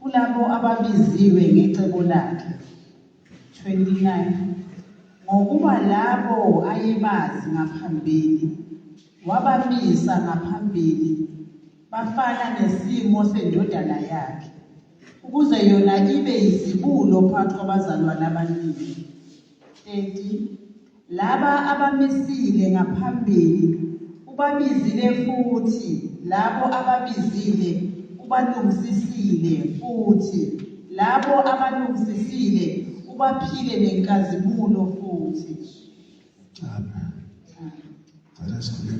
Kulabo ababiziwe ngecebo lakhe, 29 ngokuba labo ayebazi ngaphambili wabamisa ngaphambili bafana nesimo sendodana yakhe ukuze yona ibe yizibulo phakathi kwabazalwane abaningi 30 Laba abamisile ngaphambili ubabizile futhi labo ababizile ubalungisisile futhi labo abalungisisile ubaphile nenkazimulo futhi. Amen.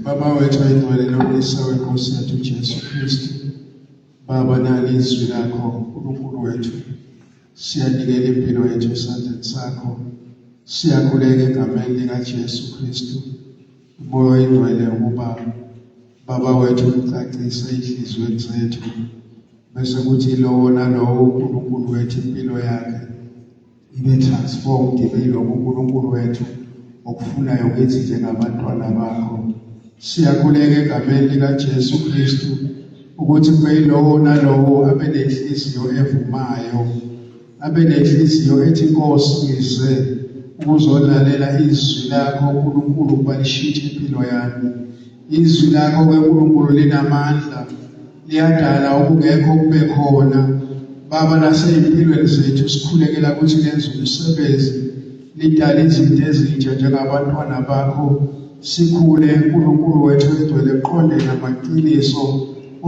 Baba wethu oyingcwele lokulisa weNkosi yethu Jesu Kristu Baba nali izwi lakho uNkulunkulu wethu siyanikela impilo yethu esandleni sakho siyakuleka egameni likaJesu Kristu umoya oyingcwele ukuba baba wethu ucacise inhliziyweni zethu bese kuthi lowo nalowo uNkulunkulu wethu impilo yakhe ibe transformed yilokho uNkulunkulu wethu okufunayo kithi njengabantwana bakho siyakuleka egameni likaJesu Kristu ukuthi kube yilowo nalowo abe nenhliziyo evumayo abe nenhliziyo ethi Nkosi ngize ukuzolalela izwi lakho uNkulunkulu balishitshe impilo yami Izwi lakho keNkulunkulu linamandla liyadala okungekho kube khona baba nasezimpilweni zethu sikhulekela ukuthi lenze umsebenzi lidala izinto ezintsha njengabantwana bakho sikhule uNkulunkulu wethu egcwele qonde namaqiniso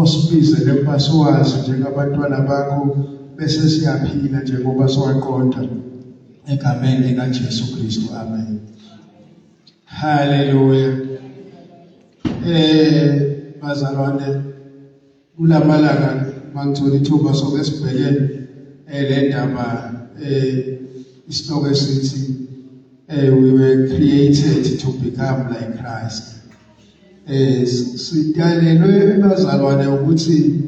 osibizele ukuba siwazi njengabantwana bakho bese siyaphila njengoba siwaqonda egameni likaJesu Kristu amen Hallelujah. Eh bazalwane kulamalanga mangithola ithuba soke sibhekene eh le ndaba eh isihloko esithi eh we were created to become like Christ. Eh sidalelwe bazalwane ukuthi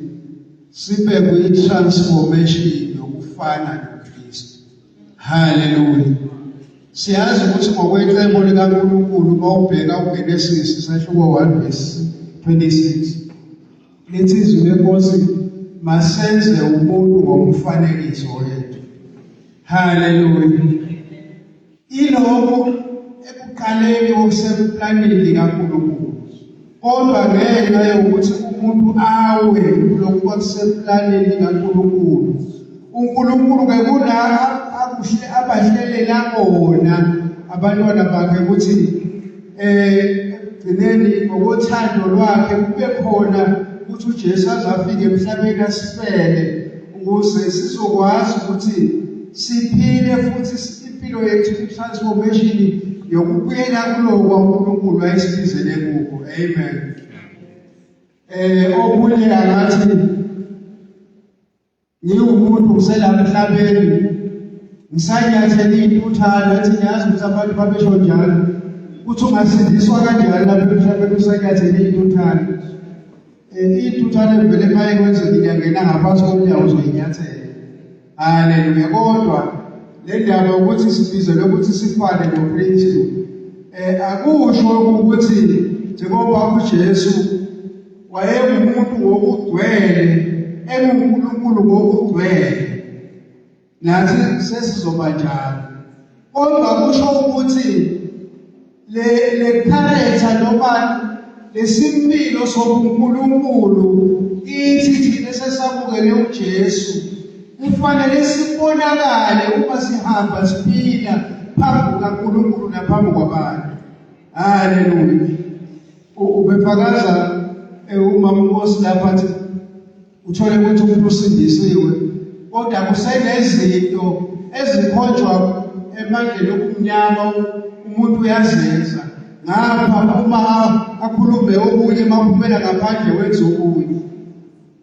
sibe kwi transformation yokufana Haleluya. Siyazi ukuthi ngokwencebo likaNkulunkulu uma ubheka uGenesis isahluko 1 verse 26 lithi izwi lenkosi masenze umuntu ngomfanekiso wethu. Haleluya. Ilokho ekuqaleni okuseplanini likaNkulunkulu Kodwa ngenxa yokuthi umuntu awe lokhu kwakuseplanini kaNkulunkulu. UNkulunkulu ke kula akuhle abahlelela kona abantwana bakhe ukuthi eh ekugcineni ngokothando lwakhe kube khona ukuthi uJesu azafika emhlabeni asifele ukuze sizokwazi ukuthi siphile futhi impilo yethu i-transformation yokubuyela kuloko kwaNkulunkulu ayisibizele kuko amen eh okunye angathi ngiwumuntu uselapha emhlabeni ngisanyathele intuthana ethi ngiyazi ukuthi abantu babesho njalo uthi ungasindiswa kanjani lapha emhlabeni usanyathele intuthana Iy'tuthwane vele uma ekwenzekile uyangena ngaphansi komnyango uzoyinyathela. Haleluya. Kodwa le ndaba yokuthi sibizelwe ukuthi sifane noKristu eh akusho ukuthi njengoba uJesu wayengumuntu wokugcwele enguNkulunkulu ngokugcwele nathi sesizoba njalo kodwa kusho ukuthi le le character noma lesimpilo sobuNkulunkulu ithi thina sesamukele uJesu kufanele sibonakale uma sihamba siphila phambi kukaNkulunkulu naphambi kwabantu haleluya ubefakaza eh, uma uNkosi lapha athi Uthole ukuthi umuntu usindisiwe kodwa kusenezinto ezikhonjwa emandleni okumnyama umuntu uyazenza ngapha uma akhulume okunye maphumela ngaphandle wenza okunye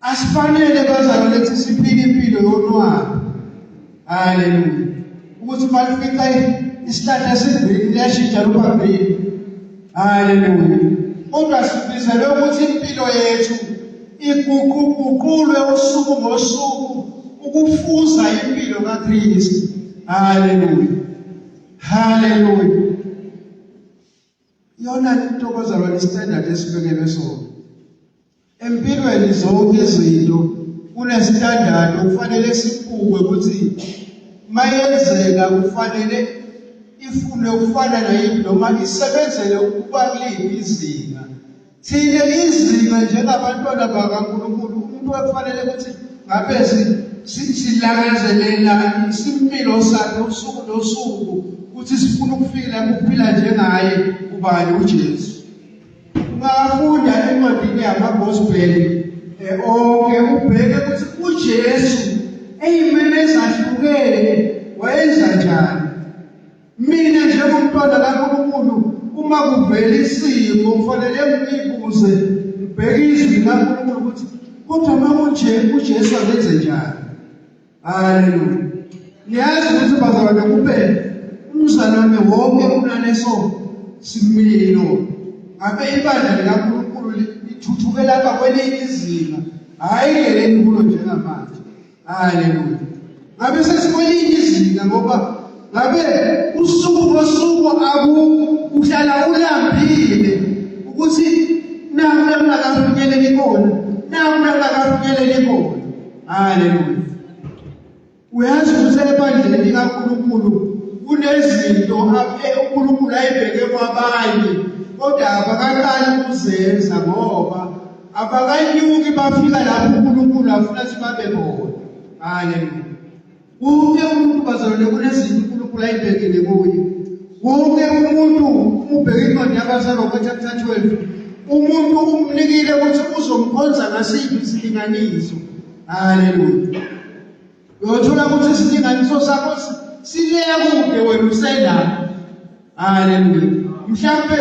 asifanele bazalwane siphile impilo yonwabi Haleluya. Ukuthi malifica isihlahla esigreen liyashintsha luba green. Haleluya. Kodwa sibizelwe ukuthi impilo yethu iguquguqulwe usuku ngosuku ukufuza impilo kaKristu. Haleluya. Haleluya. Iyona into bazalwane standard esibekelwe sona. Empilweni zonke izinto kune standard okufanele sibukwe ukuthi mayenzeka kufanele ifune ukufana nayini noma isebenzele ukuba kuliphi izinga Thina izima njengabantwana bakaNkulunkulu umuntu ofanele ukuthi ngabe silangazelela isimpilo sakhe usuku nosuku ukuthi sifuna ukufika ukuphila njengaye ubani uJesu. Ungafunda encwadini yamaGospel eh, onke ubheke ukuthi uJesu eyimene ezahlukene wayenza njani Mina njengomntwana kaNkulunkulu uma kuvela isimo kufanele ngibuze ngibheke izwi likaNkulunkulu ukuthi kodwa uma kunje uJesu akenze njani. Haleluya. Niyazi ukuthi bazalwane kube umzalwane wonke kunaleso similo abe ibandla likaNkulunkulu lithuthukela kwakwelinye izinga hayi ngeleni kulo njengamanje. Haleluya. Ngabe sesikwelinye izinga ngoba ngabe usuku ngosuku aku uhlala ulambile ukuthi naku langakafinyeleli kona naku langakafinyeleli kona. Haleluya. Uyazi ukuthi ebandleni likaNkulunkulu kunezinto uNkulunkulu ayibheke kwabanye kodwa abakaqali ukuzenza ngoba abakanyuki bafika lapho uNkulunkulu afuna ukuthi babe bona haleluya wonke umuntu bazalwane kunezinto uNkulunkulu ayibekile kuye wonke umuntu umubheke incwadi yabazalwa ngochapter 12 umuntu umnikile ukuthi uzomkhonza ngasiphi isilinganiso haleluya Uyothola ukuthi isilinganiso sakho sileya kude wena usendala. Haleluya. Mhlambe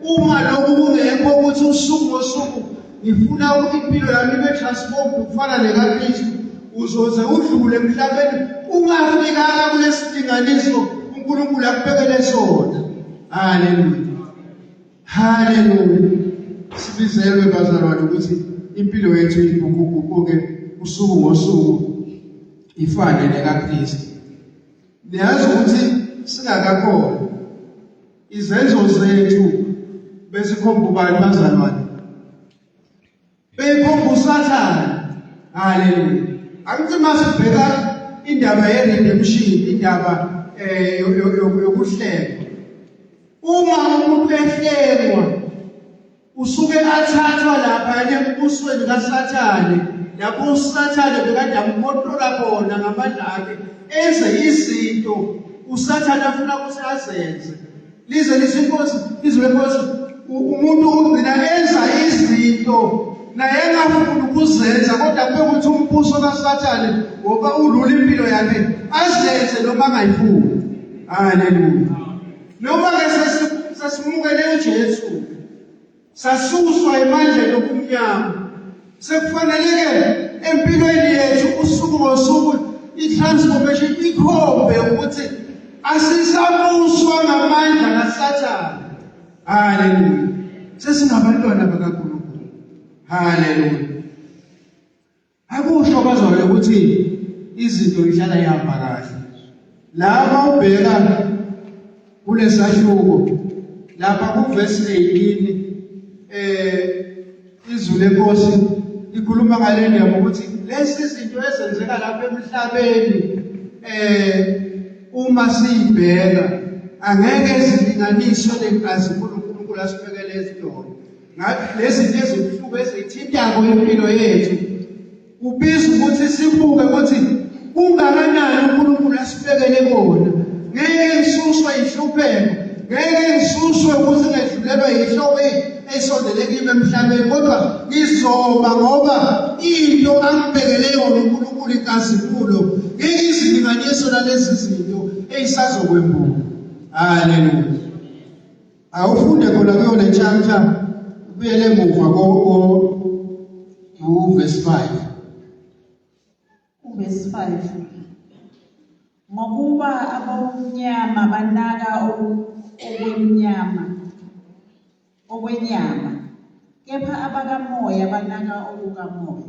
uma lokhu kungekho ukuthi usuku ngosuku ngifuna ukuthi impilo yami ibe transformed ukufana nekaKristu uzoze udlule emhlabeni ungafikanga kulesilinganiso uNkulunkulu akubekele sona. Haleluya. Hallelujah. Sibizelwe bazalwane ukuthi impilo yethu ibukuguquke usuku ngosuku ifane nekaKristu. Niyazi ukuthi singakakhona izenzo zethu besikhomba ubani bazalwane Beyikhomba uSathane. Haleluya. Angithi masibheka indaba ye redemption, indaba eh yokuhlengwa. Uma umuntu ehlengwa usuke athathwa lapha embusweni kaSathane lapho uSathane bekade amkotrola khona ngamandla akhe enze izinto uSathane afuna ukuthi azenze lize lizinkosi izwe lenkosi umuntu ugcina enza izinto naye engafuni ukuzenza kodwa bekuthi umbuso kasathane ngoba ulula impilo yakhe azenze noma angayifuni haleluya noma-ke sesimukele ujesu Sasuswa emandleni obumnyama. Sekufaneleke empilweni yethu usuku ngosuku i-transformation ikhombe ukuthi asisamuswa ngamandla kaSathane. Haleluya. Sesingabantwana bakaNkulunkulu. Haleluya. Akusho bazwayo ukuthi izinto ihlala ihamba kahle. Lapha ubheka kulesahluko lapha kuverse 18 eh izulu lenkosi likhuluma ngale ndaba ukuthi lezi zinto ezenzeka lapha emhlabeni eh uma siyibheka angeke zilinganiswe lenkazimulo uNkulunkulu asibekele izidolo ngabe lezi zinto ezibuhlungu ezithintako impilo yethu ubiza ukuthi sibuke ukuthi kungakanani uNkulunkulu asibekele kona ngeke ngisuswe inhlupheko ngeke ngisuswe ukuthi ngedlulelwa yinhloko esondele kimi emhlabeni kodwa ngizoba ngoba into angibekele yona uNkulunkulu inkazimulo ngeke izilinganiso lalezi zinto eyisazokwembuka haleluya awufunde khona kuyo le chapter ubuyele emuva ko verse 5 verse 5 ngokuba abomnyama banaka okwemnyama okwenyama kepha abakamoya banaka okukamoya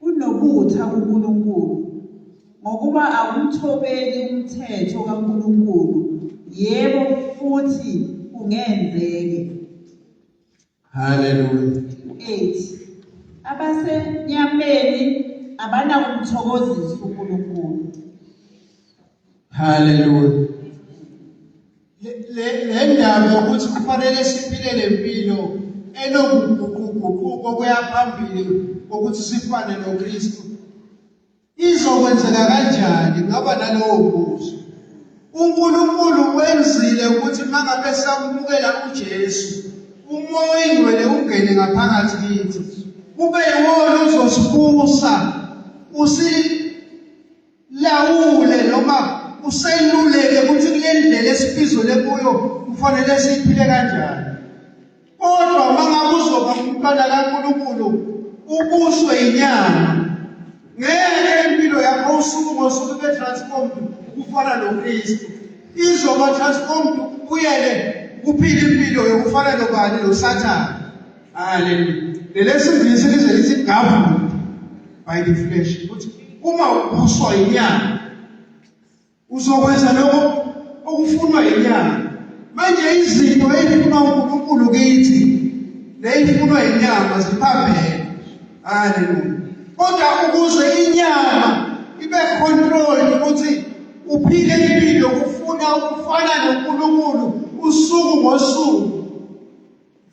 Kunobutha kuNkulunkulu, ngokuba akumthobeli umthetho kaNkulunkulu, yebo, futhi kungenzeke. Haleluya. 8 abasenyameni abanakumthokozisa uNkulunkulu Hallelujah. Le le ndaba yokuthi kufanele siphile lempilo enokuguquguquko kuyaphambili ukuthi sifane noKristu. Izokwenzeka kanjani ngaba nalowo mbuzo? uNkulunkulu wenzile ukuthi mangabe samukela uJesu umoya oyingcwele ungene ngaphakathi kithi kube yiwona uzosibusa usi lawule noma useluleke ukuthi kule ndlela esibizwele kuyo kufanele siphile kanjani kodwa uma ngabe uzoba umntwana kaNkulunkulu ubuswe inyama ngeke impilo yakho usuku ngosuku ibe transformed ukufana noKristu izoba transformed kuyele kuphila impilo yokufana nobani noSathane Hallelujah. Lelesizisi lize lithi governed by the flesh. Ukuthi uma ubuswa inyanga uzokwenza lokho okufunwa inyanga. Manje izinto ezifunwa uNkulunkulu kithi nezifunwa inyama ziphambene. Hallelujah. Kodwa ukuze inyama ibe control ukuthi uphile impilo ufuna ukufana noNkulunkulu usuku ngosuku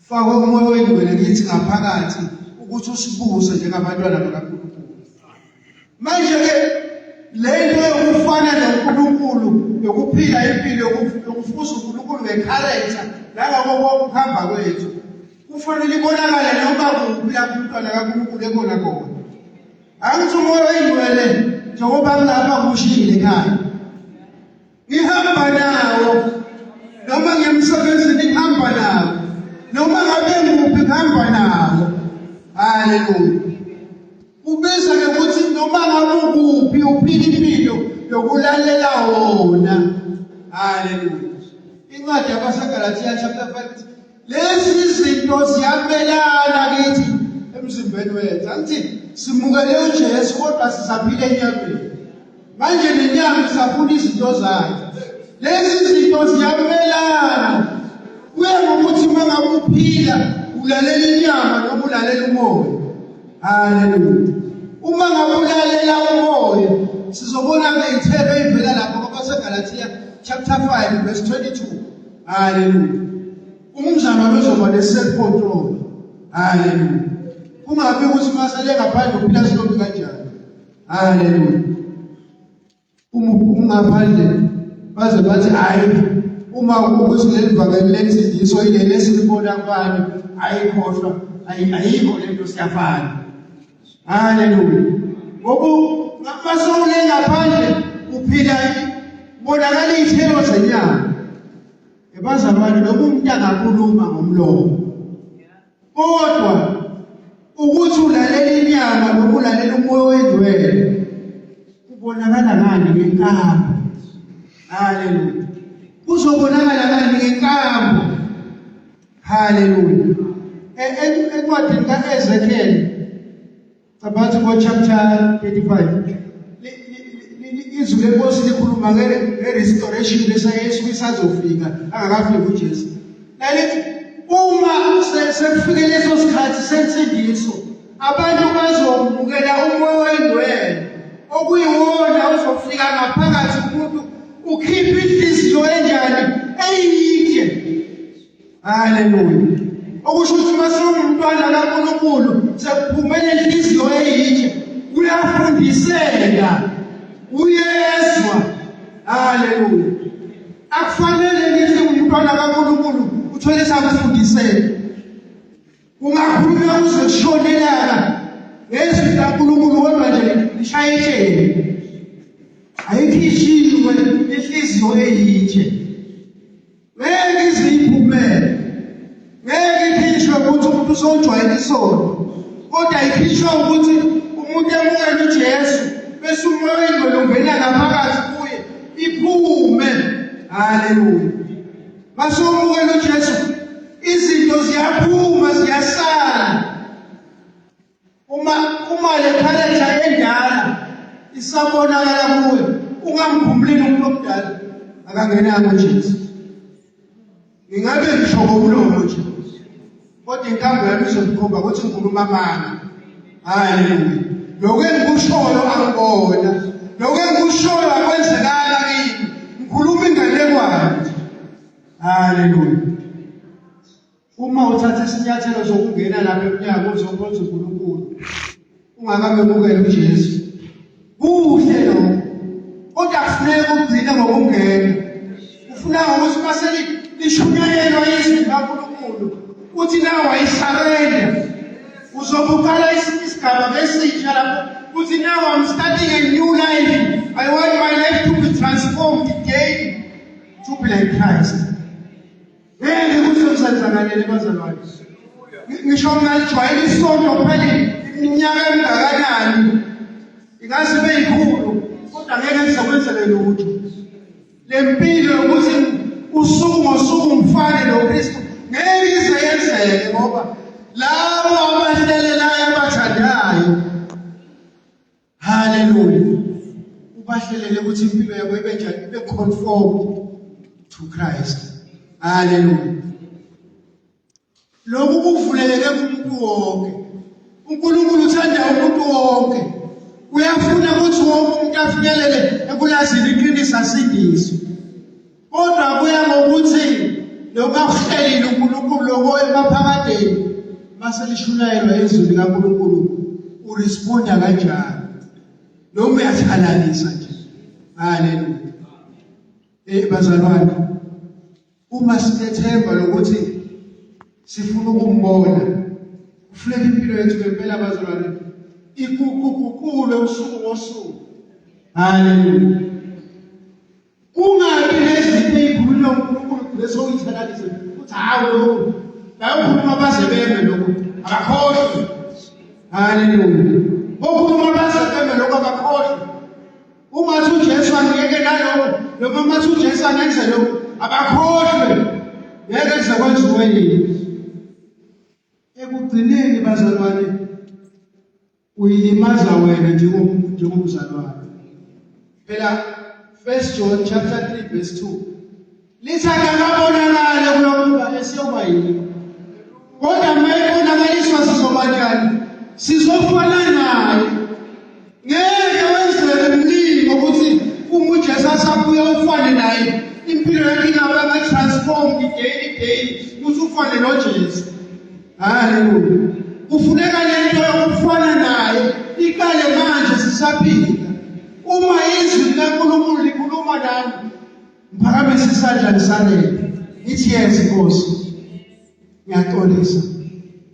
Faka umoya oyingcwele kithi ngaphakathi ukuthi usibuse njengabantwana bakaNkulunkulu. Manje ke le nto yokufana noNkulunkulu yokuphila impilo yokufuza uNkulunkulu ngekharacter nangakho konke ukuhamba kwethu kufanele ibonakale noma kuphi lapho umntwana kaNkulunkulu ekona kona. Angithi umoya oyingcwele njengoba ngilapha kushilo ekhaya ngihamba nawo noma ngemsebenzini ngihamba nawo noma ngabe nguphi ngihamba nawo haleluya ubiza ke ukuthi noma ngabe ukuphi uphila impilo yokulalela wona haleluya incwadi yabasegalatiya chapter 5 lezi izinto ziyamelana kithi emzimbeni wethu angithi simukele uJesu kodwa sisaphile enyameni manje nenyama isafuna izinto zakhe lezi izinto ziyamelana kuye ngokuthi uma ngabe uphila ulalela inyama noma ulalela umoya haleluya uma ngabe ulalela umoya sizobona ke ithebe ivela lapho kwabasegalatiya chapter 5 verse 22 Haleluya. Umzamo wezoba lesecontrol. Haleluya. Kungabe ukuthi masale ngaphandle uphila silokhu kanjani. Haleluya. Uma ungaphandle baze bathi hayi uma ukuthi lelivakeli lensindiso ileli esilibona kubani ayikhohlwa ayikho lento siyafana haleluya ngoku masowule ngaphandle uphila bonakala iy'thelo zenyanga ebazalwane noma umuntu angakhuluma ngomlomo kodwa ukuthi ulalela inyama noma ulalela umoya oyingcwele kubonakala ngani ngenkambo haleluya kuzobonakala ngani ngenkambo Hallelujah. E, e, encwadini ka-Ezekiel cabangathi ngo-chapter 35 izwi lenkosi likhuluma nge-restoration lesayesu isazofika angakafiki ujesu lalithi uma sekufike leso sikhathi sensindiso Abantu bazomukela umoya oyingcwele okuyiwona uzofika ngaphakathi umuntu ukhipha inhliziyo enjani eyide. Haleluya. Okusho ukuthi uma sewumntwana kaNkulunkulu sekuphumele inhliziyo eyide uyafundiseka uyezwa. Haleluya. Akufanele ngithi umntwana kaNkulunkulu uthwele sakufundiseka. Kungakhulunywa kuze kushone ilanga ngezwi likaNkulunkulu kodwa nje lishaye itsheni. Ayikhishiwe inhliziyo eyitshe. Ngeke ize iphumele. Ngeke ikhishwe ukuthi umuntu usojwayele isono. Kodwa ikhishwa ukuthi umuntu emukele uJesu bese umoya oyingcwele ungena ngaphakathi kuye iphume. Haleluya. Masomukela uJesu izinto ziyaphuma ziyasala. Uma uma le character endala isabonakala kuwe ungamkhumbulini umuntu omdala akangenanga uJesu. Ngingabe ngisho ngomlomo nje. kodwa inkambo yami izonikhomba ukuthi ngikhuluma amanga haleluya lokhu engikushoyo angibona lokhu engikushoyo akwenzekanga kimi ngikhuluma inganekwane haleluya uma uthatha isinyathelo sokungena lapha emnyango uzokhonza uNkulunkulu ungakamemukeli uJesu kuhle lokho kodwa kufuneka ugcine ngokungena ufuna ngokuthi uma selishunyayelwa izwi likaNkulunkulu uthi nawe wayisarenda uzobuqala esinye isigaba besitsha lapho uthi nawe I'm starting a new life I want my life to be transformed again to be like Christ ngeke kusemsenzakaleni bazalwane ngisho ngingalijwayela isonto phela iminyaka emngakanani ingaze ibe yikhulu kodwa ngeke ngizokwenzele lutho le mpilo yokuthi usuku ngosuku ngifane nokristu ngeke ize yenzeke ngoba labo abahlelelayo abathandayo Hallelujah. Ubahlelele ukuthi impilo yabo ibe njani ibe conformed to Christ. Hallelujah. Lokhu kuvuleleke kumuntu wonke. uNkulunkulu uthanda umuntu wonke. Uyafuna ukuthi wonke umuntu afinyelele ekulazini iqiniso asindiswe. Kodwa kuya ngokuthi lokakuhlelile uNkulunkulu lokho emaphakadeni mase lishulayelwa izwi likaNkulunkulu uresponda kanjani noma uyathalalisa nje haleluya eh bazalwane uma sinethemba lokuthi sifuna ukumbona kufuneka impilo yethu ngempela bazalwane ikuguqukulwe usuku ngosuku haleluya Kungabi nezinto ezikhuluma uNkulunkulu kule sokuyithalalise ukuthi hawu lokhu bayokhuluma baze beme lokhu abakhohlwe. Haleluya. Bokhuluma baze beme lokhu abakhohlwe. Uma uthi uJesu angiyeke nalokho noma uma uthi uJesu angenze lokhu abakhohlwe. Ngeke kuze kwenziwe yini. Ekugcineni bazalwane uyilimaza wena njengomzalwane phela 1 John chapter 3 verse 2 lithi akakabonakali kulokuba esiyoba yini kodwa uma ebonakaliswa sizoba njani sizofana naye ngeke wenzeke mningi ukuthi uma ujesu asabuya ufane naye impilo yakhe ingabe ama-transform day daily ukuthi ufane nojesu Haleluya. Kufuneka lento yokufana naye iqale manje sisaphila. Uma izwi likaNkulunkulu likhuluma nami, ngiphakamisa isandla lisalele. Ngithi yes Nkosi. Ngiyaxolisa.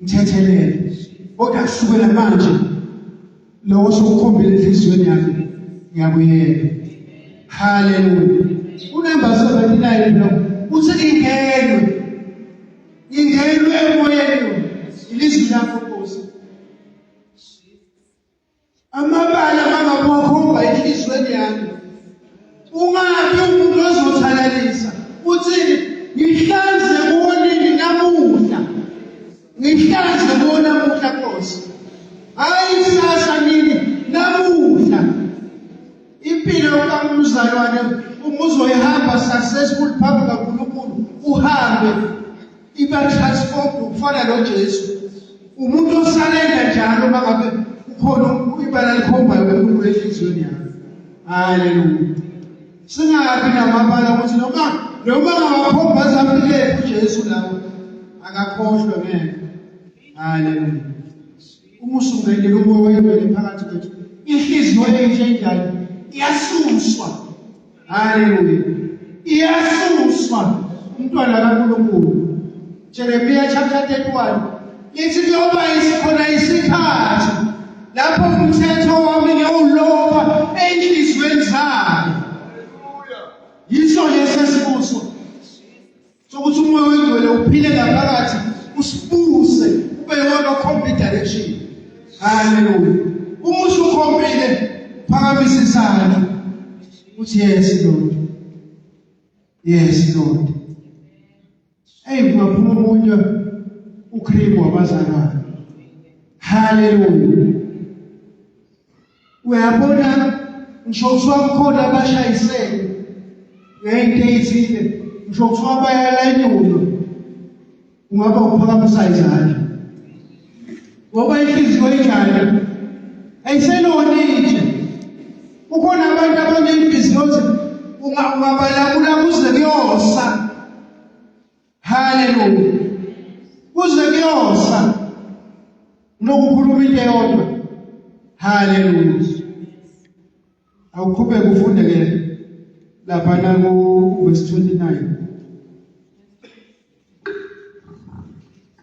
Ngithethelele. Kodwa kusukela manje lokho sokukhombela enhliziyweni yami ngiyakuyeka. Haleluya. Unumber 79 lo uthi ingenwe Ngingenwe emoyeni ilizwi lakho Nkosi. Amabala angaphokho bayilizweni yami. Ungabi umuntu ozothalalisa. Uthini? Ngihlanze kuwonini namuhla. Ngihlanze kuwona namuhla Nkosi. Hayi sasa nini namuhla. Impilo kaMnuzalwane umuzoyihamba successful phambi kaNkulunkulu uhambe iba transformed ukufana noJesu. Umuntu osalenda njalo mangabe ukhona ibala likhombayo enkulu enhliziyweni yakhe. Hallelujah. Singabi namabala ukuthi noma noma ngawakhomba zampile uJesu lawo akakhohlwe ngeke. Hallelujah. Uma usungene umoya wengcwele phakathi kwethu, inhliziyo entsha enjalo iyasuswa. Haleluya. Iyasuswa umntwana kaNkulunkulu. Jeremiya chapter 31 lithi kuyoba isikhona isikhathi lapho umthetho wami ngewuloba enhliziyweni zabo. Yiso lesi esibuso. sokuthi umoya wengcwele uphile ngaphakathi usibuse ube yona okhomba idirection haleluya uma usukhombile phakamisa isandla uthi yes lord yes lord hey kungaphuma omunye ukhrimu wabazalwane haleluya uyabona ngisho kuthiwa kukhona abashayisele ngeyinto eyithile ngisho kuthiwa bayalayinyulwa ungaba uphakamisa izandla ngoba inhliziyo injalo ayiseloni nje kukhona abantu abanenhliziyo ungabalakula kuze kuyosa Hallelujah. Kuze kuyosa nokukhuluma into eyodwa. Hallelujah. Awuqhubeke ufunde ke lapha na ku verse 29.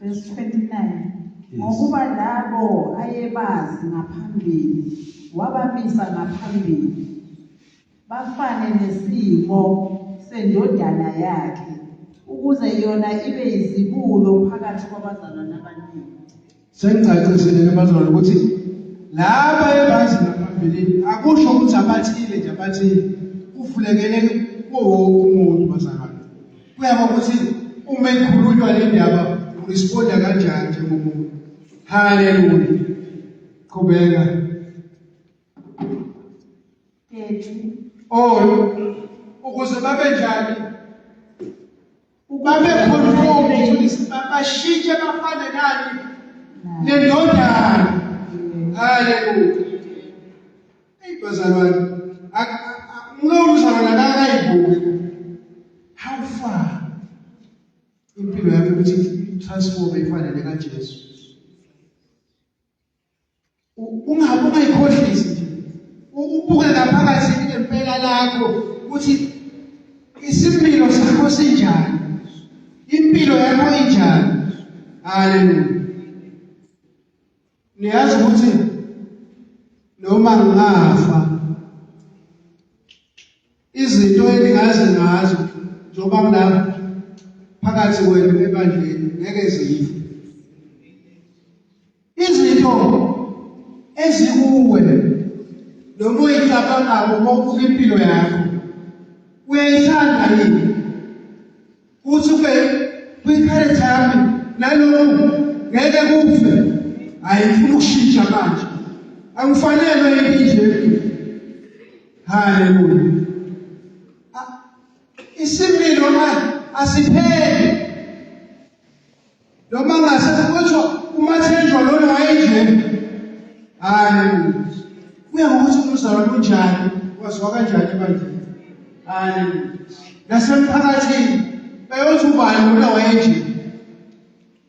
Verse 29. Ngokuba labo ayebazi ngaphambili wabamisa ngaphambili bafane nesimo sendodana yakhe ukuze yona ibe yizibulo phakathi kwabazalwane abaningi sengicacisile ke bazalwane ukuthi laba ebazi ngaphambilini akusho ukuthi abathile nje abathile kuvulekele kuwo wonke umuntu bazalwane kuya ngokuthi uma ikhulunywa le ndaba uresponda kanjani njengomuntu haleluya qhubeka oyo ukuze babe njani babe conformed to this bashintshe bafane nani nendodana haleluya bazalwane umuntu uzalwana akayibuki how far impilo yakhe ukuthi transform ifanele kaJesu ungabe ungayikhohlisi nje ubuke ngaphakathi ngempela lakho ukuthi isimilo sakho sinjani impilo yakho injani haleluya niyazi ukuthi noma ngingafa Izinto eningazi ngazo njengoba kulapha phakathi kwenu ebandleni ngeke zife. Izinto ezikuwe noma uyicabangako ngokubuka impilo yakho uyayithanda yini? Usuke kwi-character yami naloku ngeke kufe. Hayi ngifuna ukushintsha manje. Angifanelwe yini nje. Haleluya. Isimilo asipheli noma ngase kuthiwa umathenjwa lona wayenjena hayi kuya ngokuthi umzalo kunjani waziwa kanjani ebandleni hayi nasemphakathini bayothi ubani lona wayenjena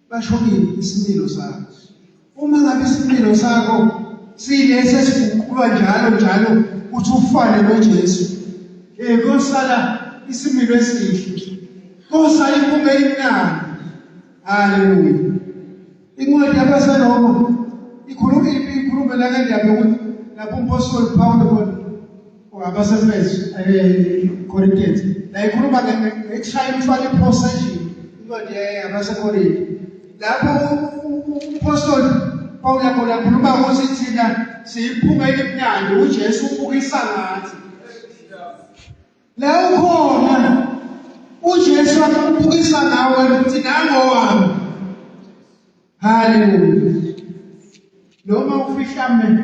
bashokile isimilo sakhe Uma ngabe isinqilo sakho silesi esiguqulwa njalo njalo uthi ufane noJesu. Eh kosala isimilo esihle. Kosa impunga imnandi. Haleluya. Incwadi yabaseRoma ikhuluma ikhuluma la ngendaba yokuthi lapho umpostoli Pawulo abasefesu ekorintiyenti eh, la ikhuluma ngekushaya umfana iphosa nje incwadi yabasekorinte lapho uphostoli pawula khona khuluma ukuthi thina siyiphuma elimnandi ujesu ubukisa ngathi la ukhona ujesu akubukisa ngawe ukuthi nangowami haleluya noma ufihla mena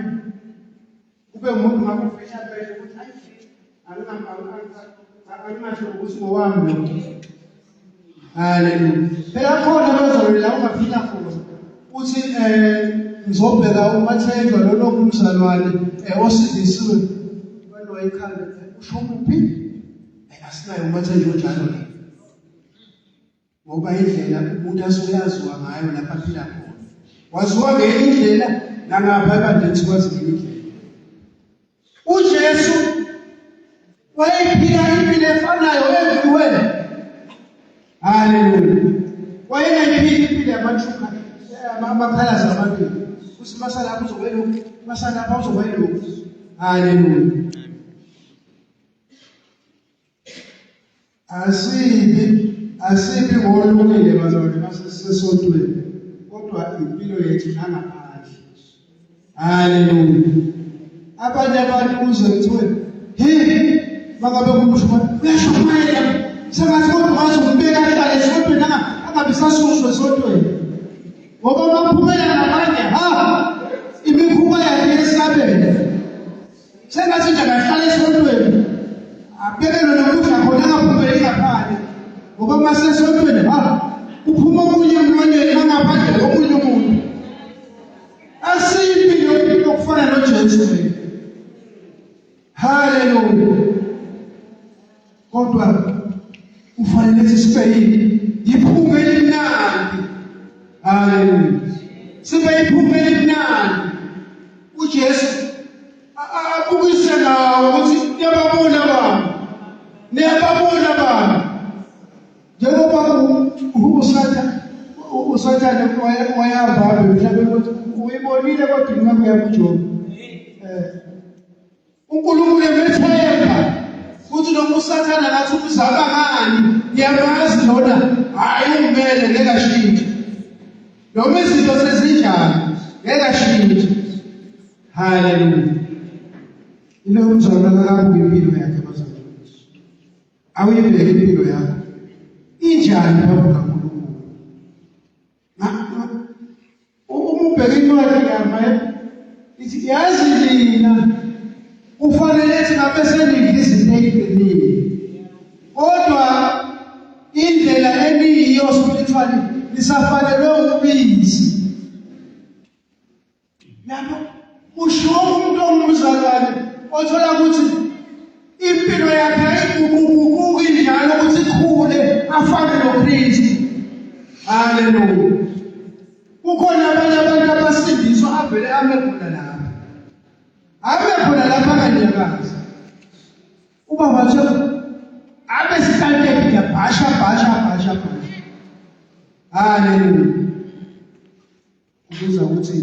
Kube umuntu ngabe ufisha pheshe ukuthi ayi anginasho ukuthi ngowami lo. Haleluya. Phela khona bezolila ungaphila khona. Uthi eh ngizobheka umathenjwa lona kumzalwane eh osindisiwe kwalo ekhanda usho kuphi? Eh, asinayo umathenjwa njalo la. ngoba indlela umuntu asoyaziwa ngayo lapha aphila khona waziwa ngenye indlela nangapha ebandlethi kwazi ngenye indlela ujesu wayephila impilo efanayo everywhere haleluya wayengayiphili impilo yamathuka amaphalaza abantu uthi masalapha uzokwelokhu masalapha uzokwelokhu haleluya Asibi asibi ngolungile bazalwane basesesotweni kodwa impilo yethu nangaphandle. Haleluya. Abanye abantu kuze kuthiwe hi makabe kumshuma uyashumayela sengathi kodwa wazi umbeka ahlale esotweni angabe sasuswe esotweni. Ngoba baphumela nabanye ha imikhuba yakhe yesabelo. Sengathi nje akahlala esontweni. Abhekele nokudla khona angaphumeli ngaphandle. Ngoba uma sesontweni ha uphuma omunye emlonyeni angaphandle komunye umuntu. Asiyimbi yokuphila okufana noJesu. Hallelujah. kodwa kufanele sisibeyini yiphume elimnandi haleluya sibe yiphume elimnandi uJesu abukise nawo ukuthi niyababona abantu niyababona abantu njengoba usathane usathane wayahamba mhlawumbe ukuthi uyibonile kodwa ingabe uyakujoba um eh, uNkulunkulu emethemba futhi noma usathane angathi umzama ngani ngiyamazi lona hhayi ungimele ngeke ashintshe noma izinto sezinjani ngeke ashintshe haleluya ile umzama akabuke impilo yakhe bazalwane awuyibheke impilo yakho injani babuka Ubheka incwadi ngama ithi yazi nina kufanele ukuthi ngabe senidla izinto eziqinile. Kodwa indlela eniyiyo spiritually nisafanelwe ubisi. Lapho kushiwo umuntu ongumzalwane othola ukuthi impilo yakhe ayiguquguquki njalo ukuthi ikhule afane noKristu. Haleluya. Kukhona abanye abantu abasindiswa avele ame khona lapha. Ame khona lapha kanyakazi. Uba wathi abe sihlanteke ngiyabhasha bhasha bhasha bhasha. Haleluya. Ubuza ukuthi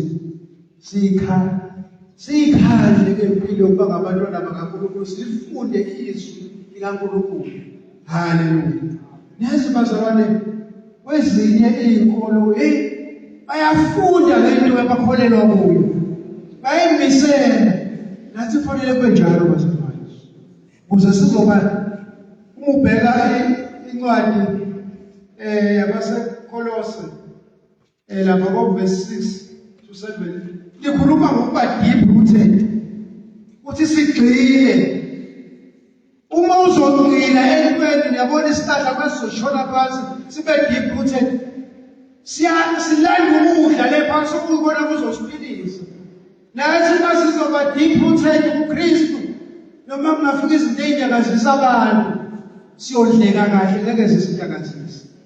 sikha sikhandle ngempilo ukuba ngabantwana bakaNkulunkulu sifunde izwi likaNkulunkulu. Haleluya. Nezi bazalwane kwezinye izinkolo hey bayafunda lento abakholelwa kuyo. Bayimisela nathi fanele kube njalo bazalwane. Kuze sizoba umubheka incwadi eh yabaseKolose Eh lapha ko verse 6 to 7 likhuluma ngokuba deep rooted. Uthi sigxile uma uzogxila entweni yabona isihlahla kwesizoshona phansi sibe deep rooted. Siya silanda ukudla le phansi ukubona kuzosiphilisa. Nathi masizoba deep rooted kuKristu noma kungafika izinto ezinyakazisa abantu siyodleka kahle ngeke sizinyakazise.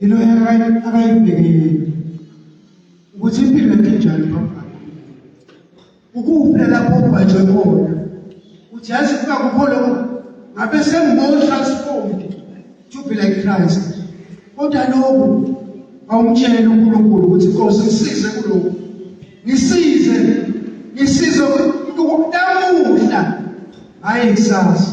Yilo akayibhekile ukuthi impilo yakhe njani phambili. Ukuphi lapho ubhajwe khona? Uthi yazi kuba kukho lokho ngabe sengimore transformed to be like Christ. Kodwa lokho awumtshele uNkulunkulu ukuthi Nkosi ngisize kulokho. Ngisize ngisize ukudamuhla hayi kusasa.